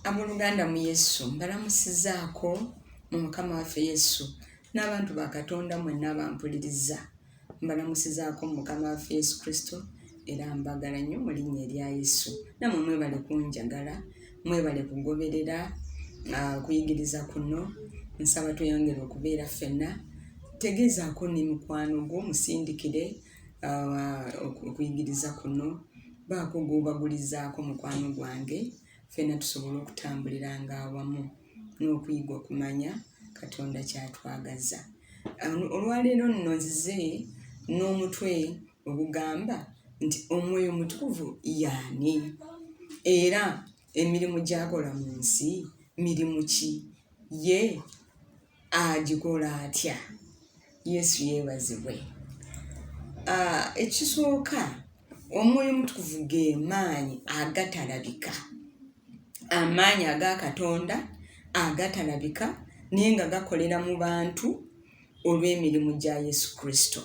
ab'oluganda mu yesu mbalamusizaako mu mukama waffe yesu n'abantu ba katonda mwenna abampuliriza mbalamusizaako mu mukama waffe yesu kristo era mbagala nnyo mu linnya erya yesu namwe mwebale kunjagala mwebale kugoberera uh, kuyigiriza kuno nsaba tweyongere okubeera ffenna tegeezaako ne mukwano gwo musindikire uh, okuyigiriza kuno baako gwobagulizaako mukwano gwange ffenna tusobole okutambulira nga awamu n'okuyiga okumanya katonda kyatwagaza um, olwaleero nno nzize n'omutwe Ogugamba nti Omwoyo Omutukuvu y'ani, era emirimu gy'akola mu nsi mirimu ki? Ye agikola atya? Yesu yeebazibwe. Ah, ekisooka, Omwoyo Omutukuvu ge maanyi agatalabika, amaanyi aga Katonda agatalabika naye nga gakolera mu bantu olw'emirimu gya Yesu Kristo.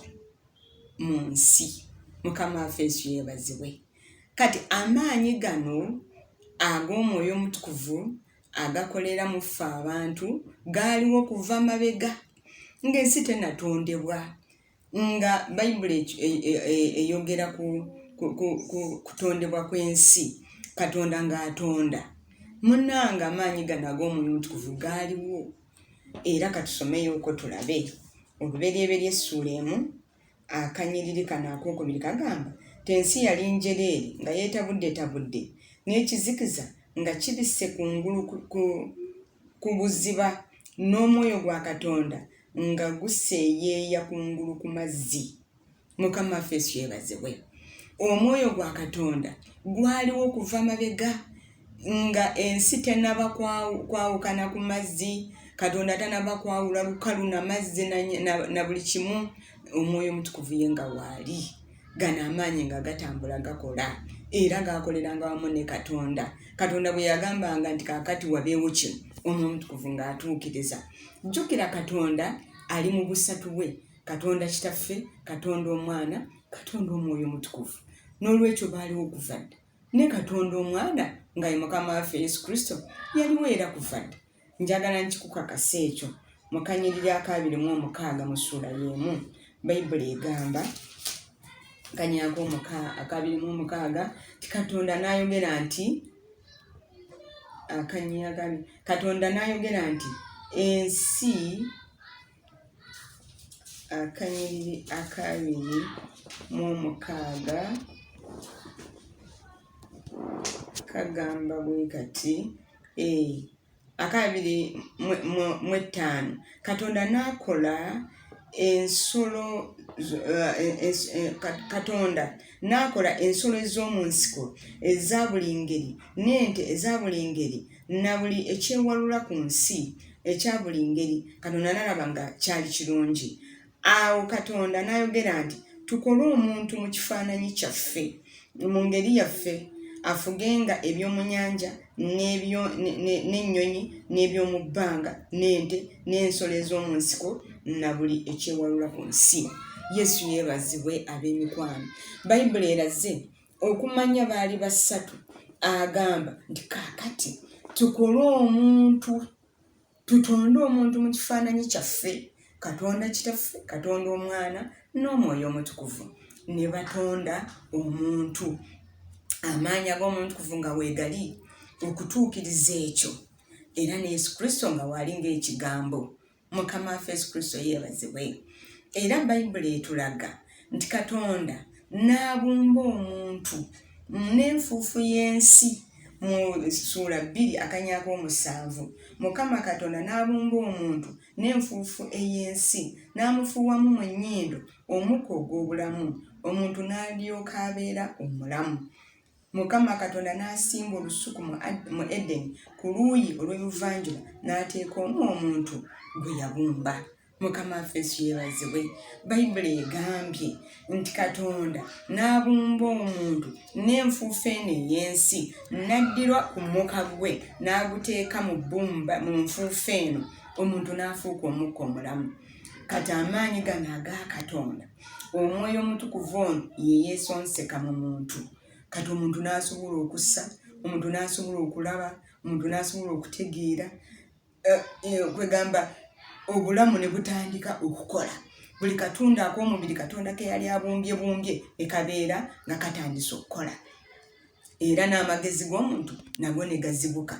mu nsi mukama waffe yesu yebazibwe kati amaanyi gano ag'omwoyo omutukuvu agakolera mu ffe abantu gaaliwo okuva mabega ng'ensi tenatondebwa nga bayibuli e, e, e, eyogera ku kutondebwa kw'ensi katonda ng'atonda munaanga amaanyi gano ag'omwoyo omutukuvu gaaliwo era katusomeyoko tulabe oluberyeberye essuula emu akanyiriri kano akokubiri kagamba ti ensi yali njereeri nga yetabuddetabudde n'ekizikiza nga kibisse kungulu ku buziba n'omwoyo gwa katonda nga guseeyeeya kungulu ku mazzi mukama waffe yesu yebazibwe omwoyo gwa katonda gwaliwo okuva mabega nga ensi tenaba kwawukana ku mazzi katonda tanaba kwawula lukalu na mazzi na buli kimu omwoyo omutukuvu ye nga waali gano amaanyi nga gatambula gakola era gaakoleranga wamu ne katonda katonda bwe yagambanga nti kakati wabeewo kino omwoyo omutukuvu ng'atuukiriza jjukira katonda ali mu busatu bwe katonda kitaffe katonda omwana katonda omwoyo omutukuvu n'olwekyo baaliwo okuva dda ne katonda omwana nga ye mukama waffe yesu kristo yaliwo era kuva dda njagala nkikukakasa ekyo mu kanyiriri akaabiri mu omukaaga mu ssuula y'emu bayibuli egamba kanyako akabiri mu omukaaga ti katonda n'ayogera nti akanyagami katonda n'ayogera nti ensi akanyiriri akabiri mu omukaaga kagamba bwe kati e akabiri mu ettaano katonda n'akola ensolo eh, eh, katonda n'akola ensolo ez'omu nsiko eza buli ngeri n'ente eza buli ngeri na buli ekyewalula ku nsi ekya buli ngeri katonda nalaba nga kyali kirungi awo katonda nayogera nti tukole omuntu mu kifaananyi kyaffe mu ngeri yaffe afugenga ebyomunyanja n'ennyonyi n'ebyomu bbanga n'ente n'ensolo ez'omu nsiko na buli ekyewalula ku nsi yesu yeebazibwe ab'emikwano bayibuli eraze okumanya baali basatu agamba nti kakati tukole omuntu tutonde omuntu mu kifaananyi kyaffe katonda kitaffe katonda omwana n'omwoyo omutukuvu ne batonda omuntu amaanyi ag'omutukuvu nga weegali okutuukiriza ekyo era ne yesu kristo nga waali ng'ekigambo mukama waffe yesu kristo yeebazibwe era bayibuli etulaga nti katonda n'abumba omuntu n'enfuufu y'ensi mu suula bbiri akanyako omusanvu mukama katonda n'abumba omuntu n'enfuufu ey'ensi n'amufuuwamu mu nnyindo omukka ogw'obulamu omuntu n'alyoka abeera omulamu Mukama Katonda n'asimba olusuku mu Edeni ku luuyi olw'ebuvanjuba, n'ateeka omwo omuntu gwe yabumba. Mukama waffe Yesu yeebazibwe. Bayibuli egambye nti Katonda n'abumba omuntu n'enfuufu eno ey'ensi, n'addira ku muka gwe n'aguteeka mu bbumba mu nfuufu eno, omuntu n'afuuka omukka omulamu. Kati amaanyi gano aga Katonda! omwoyo omutukuvu ono yeyesonseka mu muntu kati omuntu n'asobola okussa omuntu n'asobola okulaba omuntu n'asobola okutegeera eh, eh, kwegamba obulamu ne butandika okukola buli katundu ak'omubiri katonda ke yali abumbye bumbye ne kabeera nga katandise okukola era n'amagezi g'omuntu nago ne gazibuka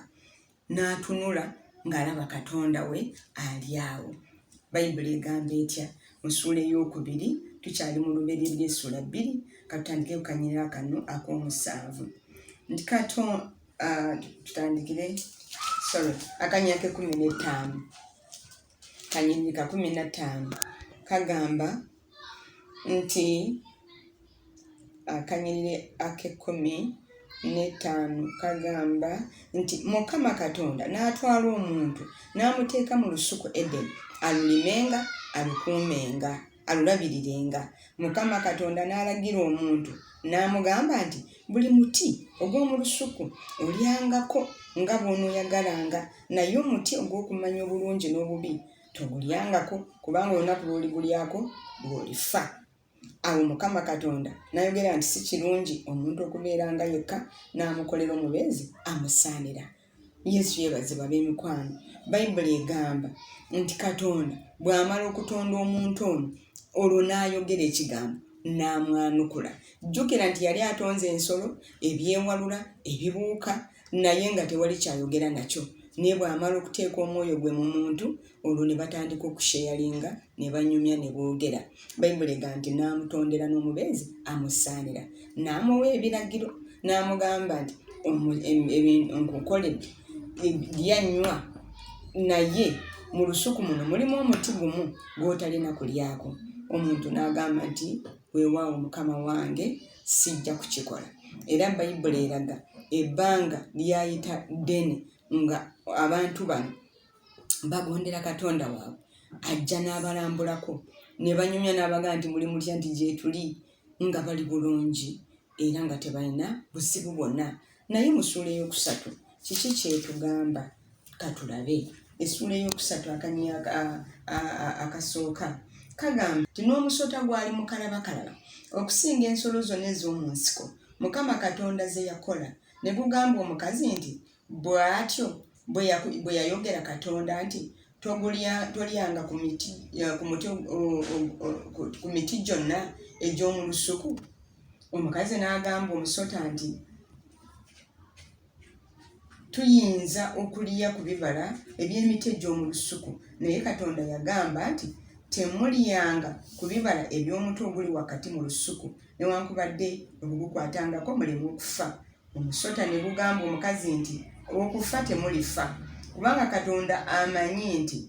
n'atunula ng'alaba katonda we ali awo bayibuli egamba etya mu ssuula ey'okubiri tukyali mu luberye ly'essuula bbiri katutandike kukanyira kano ak'omusanvu nti kato ah, tutandikire sorry akanyira k'ekkumi n'ettaano kanyiriri ka kumi na ttaano kagamba nti akanyiriri ak'ekkumi n'ettaano kagamba nti mukama katonda n'atwala omuntu n'amuteeka mu lusuku edeni alulimenga alukuumenga alulabirirenga mukama katonda n'alagira omuntu n'amugamba nti buli muti ogw'omu lusuku olyangako nga bw'onooyagalanga naye omuti ogw'okumanya obulungi n'obubi togulyangako kubanga olunaku lw'oligulyako lw'olifa awo mukama katonda n'ayogera nti si kirungi omuntu okubeeranga yekka n'amukolera omubeezi amusaanira yesu yebazibwa bemikwano bayibuli egamba nti katonda bwamala okutonda omuntu ono olwo nayogera ekigambo namwanukula jjukira nti yali atonze ensolo ebyewalula ebibuuka naye nga tewali kyayogera nakyo naye bwamala okuteeka omwoyo gwe mu muntu olwo ne batandika okusheyalinga ne banyumya ne boogera bayibuli ega nti n'amutondera n'omubeezi amusaanira n'amuwa ebiragiro n'amugamba nti nkukoledde lyanywa naye mu lusuku muno mulimu omuti gumu gw'otalina kulyako omuntu n'agamba nti weewaawo mukama wange sijja kukikola era bayibuli eraga ebbanga lyayita ddene nga abantu bano bagondera katonda waabwe ajja n'abalambulako ne banyumya n'abaga nti muli mutya nti gyetuli nga bali bulungi era nga tebalina buzibu bwonna naye mu ssuula ey'okusatu kiki kyetugamba katulabe essuula ey'okusatu akanya akasooka kagamba nti n'omusota gwali mukalabakalaba okusinga ensolo zonna ez'omu nsiko mukama katonda ze yakola ne gugamba omukazi nti Bw'atyo bwe yayogera Katonda nti, Tolyanga ku miti gyonna egy'omu lusuku. Omukazi n'agamba omusota nti, Tuyinza okulya ku bibala eby'emiti egy'omu lusuku, naye Katonda yagamba nti, Temulyanga ku bibala eby'omuti oguli wakati mu lusuku, newankubadde okugukwatangako muleme okufa. Omusota ne gugamba omukazi nti, Okufa temulifa, kubanga Katonda amanyi nti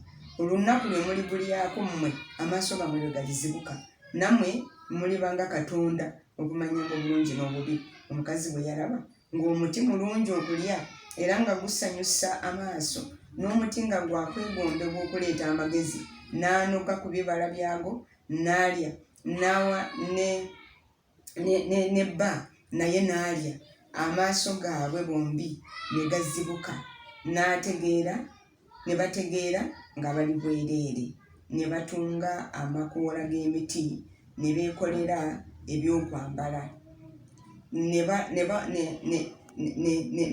olunnaku lwe muligulyako mmwe amaaso gammwe lwe galizibuka, nammwe muliba nga Katonda okumanyanga obulungi n'obubi. Omukazi bwe yalaba ng'omuti mulungi okulya era nga gusanyusa amaaso, n'omuti nga gwa kwegondebwa okuleeta amagezi, n'anoga ku bibala byagwo n'alya, n'awa ne. ne bba naye n'alya amaaso gaabwe bombi ne gazibuka n'ategeera ne bategeera nga bali bwereere ne batunga amakoola g'emiti ne beekolera ebyokwambala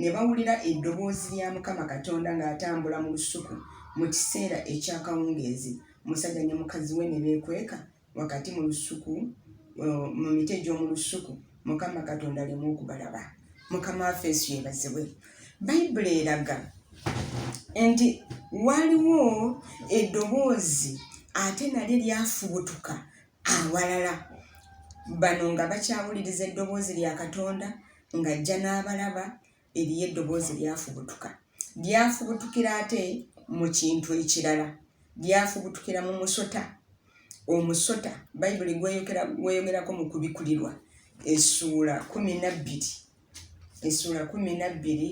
ne bawulira eddoboozi lya mukama katonda ng'atambula mu lusuku mu kiseera eky'akawungeezi musajja ne mukazi we ne beekweka wakati mu lusuku mu miti egy'omu lusuku mukama katonda alemu okubalaba mukama waffe yesu yebazibwe bayibuli eraga nti waliwo eddoboozi ate nalyo lyafubutuka awalala bano nga bakyawuliriza eddoboozi lya katonda ng'ajja n'abalaba Eriyo eddoboozi lyafubutuka. Lyafubutukira ate mu kintu ekirala. Lyafubutukira mu musota. Omusota Bayibuli gweyogerako mu kubikulirwa essuula kumi na bbiri essuula kumi na bbiri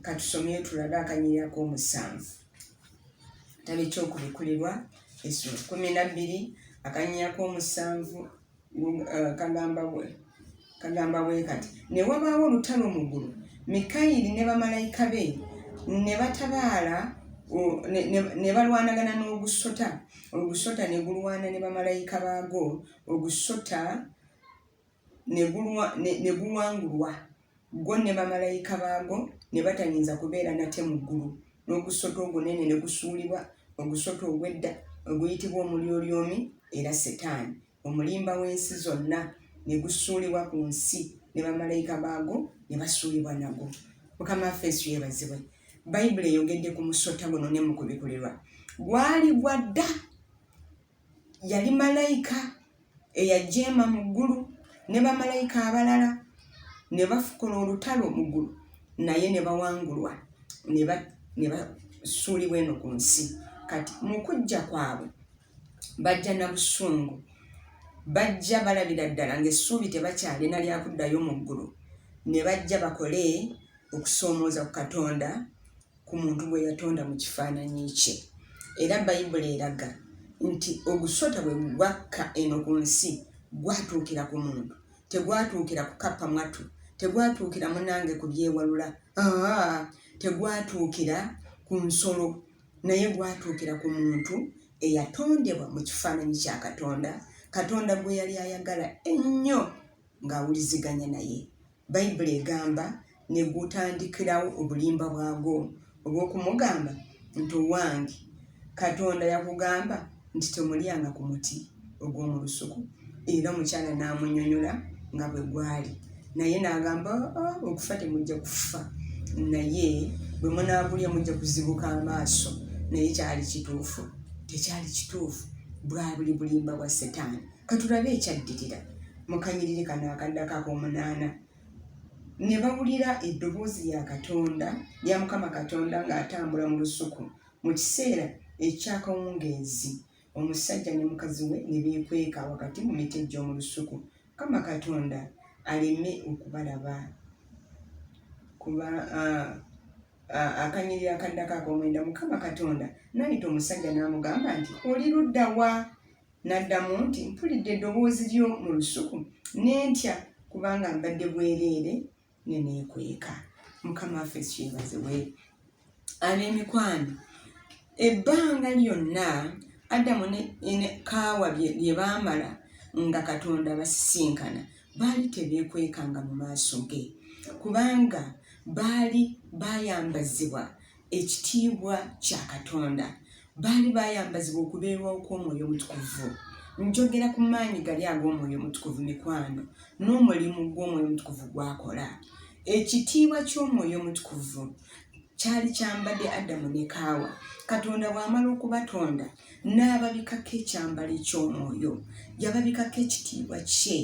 katusomeyo tulabe akanyirako omusanvu tabe kyokubikulirwa essuula kumi na bbiri akanyirako omusanvu Eh, kagamba bwe kagamba bwe kati ne wabaawo olutalo mu ggulu mikayiri ne bamalayika be ne batabaala ne balwanagana n'ogusota ogusota ne gulwana ne bamalayika baago ogusota ne guwangulwa Go ne bamalayika baago ne batayinza kubeera nate mu ggulu, n'ogusota ogunene ne gusuulibwa, ogusota ogw'edda oguyitibwa Omulyolyomi era Setaani, omulimba w'ensi zonna, ne gusuulibwa ku nsi, ne bamalayika baago ne basuulibwa nagwo. Mukama waffe Yesu yeebazibwe! Bayibuli eyogedde ku musota guno ne mu kubikulirwa. Gwali gwa dda. Yali malayika eyajeema mu ggulu ne bamalayika abalala ne bafukula olutalo mu ggulu naye ne bawangulwa ne basuulibwa eno ku nsi kati mu kujja kwabwe bajja na busungu bajja balabira ddala ng'essuubi tebakyalina lyakuddayo mu ggulu ne bajja bakole okusoomooza ku katonda ku muntu gwe yatonda mu kifaananyi kye. Era Bayibuli eraga nti ogusota bwe gwakka eno ku nsi gwatuukira ku muntu, tegwatuukira kukappa mwatu, tegwatuukira munange ku byewalula, aa, tegwatuukira ku nsolo, naye gwatuukira ku muntu eyatondebwa mu kifaananyi kya Katonda, Katonda gwe yali ayagala ennyo ng'awuliziganya naye. Bayibuli egamba, Ne gutandikirawo obulimba bwagwo obw'okumugamba nti, Owange, Katonda yakugamba nti temulyanga ku muti ogw'omu lusuku. Era omukyala n'amunnyonnyola nga bwe gwali. Naye n'agamba, Oh, oh, okufa temujja kufa, naye bwe munaagulya mujja kuzibuka amaaso. Naye kyali kituufu? Tekyali kituufu. Bwabuli bulimba bwa Setaani. Katulabe ekyaddirira mu kanyiriri kano akaddako ak'omunaana. Ne bawulira eddoboozi lya Katonda, lya Mukama Katonda ng'atambula mu lusuku mu kiseera eky'akawungeezi. Omusajja ne mukazi we ne beekweka wakati mu miti egy'omu lusuku, Mukama Katonda aleme okubalaba. Kuba akanyirira akaddako ak'omwenda, Mukama Katonda n'ayita omusajja n'amugamba nti, Oli ludda wa? N'addamu nti, Mpulidde eddoboozi lyo mu lusuku, ne ntya, kubanga mbadde bwereere ne neekweka. Mukama waffe Yesu yeebazibwe. Ab'emikwano, ebbanga lyonna Adamu ne Kaawa lye baamala nga Katonda abasisinkana, baali tebeekwekanga mu maaso ge, kubanga baali baayambazibwa ekitiibwa kya Katonda. Baali baayambazibwa okubeerwawo kw'Omwoyo Omutukuvu. Njogera ku maanyi gali ag'Omwoyo Omutukuvu, mikwano, n'omulimu gw'Omwoyo Omutukuvu gw'akola. Ekitiibwa ky'Omwoyo Omutukuvu kyali kyambadde Adamu ne Kaawa. Katonda bw'amala okubatonda, n'ababikako ekyambalo eky'Omwoyo. Yababikako ekitiibwa Kye,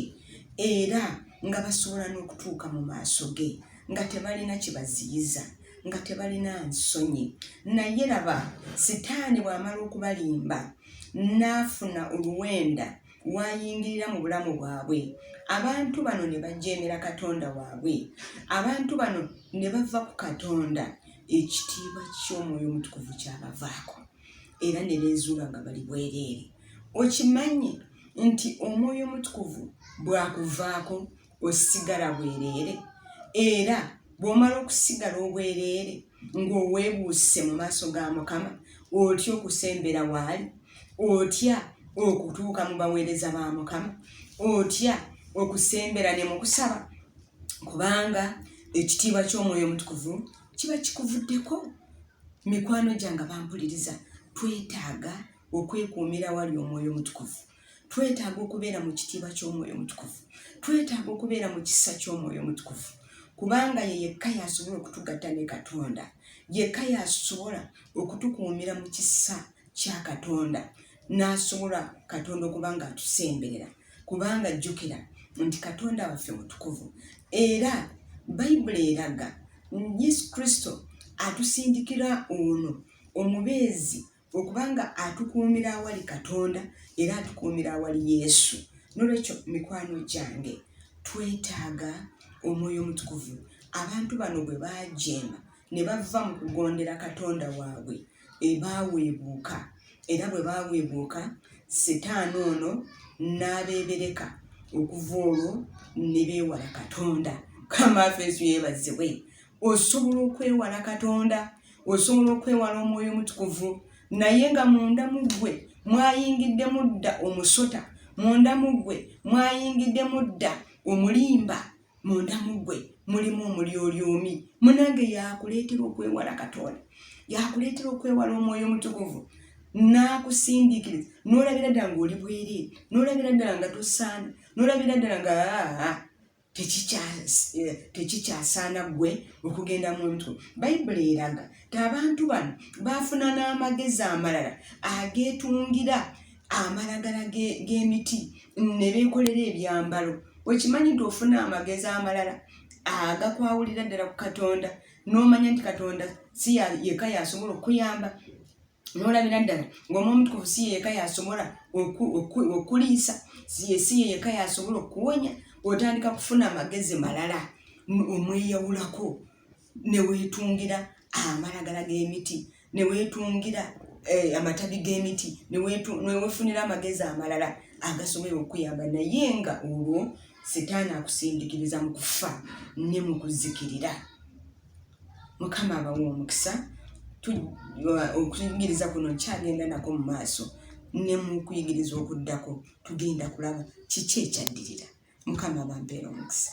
era nga basobola n'okutuuka mu maaso Ge. nga tebalina kibaziyiza nga tebalina nsonyi naye laba sitaani bw'amala okubalimba n'afuna oluwenda wayingirira mu bulamu bwabwe abantu bano ne bajeemera katonda waabwe abantu bano ne bava ku katonda ekitiibwa ky'omwoyo omutukuvu kyabavaako era ne beezuula nga bali bwereere okimanyi nti omwoyo omutukuvu bwakuvaako osigala bwereere era bw'omala okusigala obwereere ng'oweebuuse mu maaso ga mukama otya okusembera waali otya okutuuka mu baweereza ba mukama otya okusembera ne mu kusaba kubanga ekitiibwa ky'omwoyo omutukuvu kiba kikuvuddeko mikwano gyange bampuliriza twetaaga okwekuumira wali omwoyo omutukuvu twetaaga okubeera mu kitiibwa ky'omwoyo omutukuvu twetaaga okubeera mu kisa ky'omwoyo omutukuvu kubanga ye yekka yasobola okutugatta ne katonda yekka yasobola okutukuumira mu kisa kya katonda n'asobola katonda okuba nga atusemberera kubanga jjukira nti katonda waffe mutukuvu era bayibuli eraga yesu kristo atusindikira ono omubeezi okubanga atukuumira awali katonda era atukuumira awali yesu nolwekyo mikwano gyange twetaaga omwoyo omutukuvu abantu bano bwe bajeema ne bava mu kugondera katonda waabwe ebaaweebuuka era bwe baaweebuuka sitaani ono n'abeebereka okuva olwo ne beewala katonda kamaafeesu yeebazibwe osobola okwewala katonda osobola okwewala omwoyo omutukuvu naye nga munda mu ggwe mwayingidde mudda omusota munda mu ggwe mwayingidde mudda omulimba munda mu ggwe mulimu omulyolyomi munange yakuleetera okwewala katonda yakuleetera okwewala omwoyo omutukuvu n'akusindiikiriza n'olabira ddala ng'oli bwereere n'olabira ddala nga tosaana n'olabira ddala nga aa tekikyasaana eh, ggwe okugenda mu mutwe bayibuli eraga ti abantu bano baafuna n'amagezi amalala ageetungira amalagala g'emiti ne beekolera ebyambalo wekimanyi nti ofuna amagezi amalala agakwawulira ddala ku katonda n'omanya nti katonda si yeka yasobola okukuyamba nolabira ddala ng'omu omutukuvu si yeyeka yasobola okuliisa si yeyeka yasobola okuwonya otandika kufuna amagezi malala omweyawulako newetungira amalagala g'emiti newetungira eh, amatabi g'emiti newefunira amagezi amalala agasobola okuyamba naye nga olwo sitaani akusindikiriza mu kufa ne mu kuzikirira mukama abawa omukisa okuyigiriza kuno nkyagenda nako mu maaso ne mu kuyigiriza okuddako tugenda kulaba kiki ekyaddirira mukama abampeera omukisa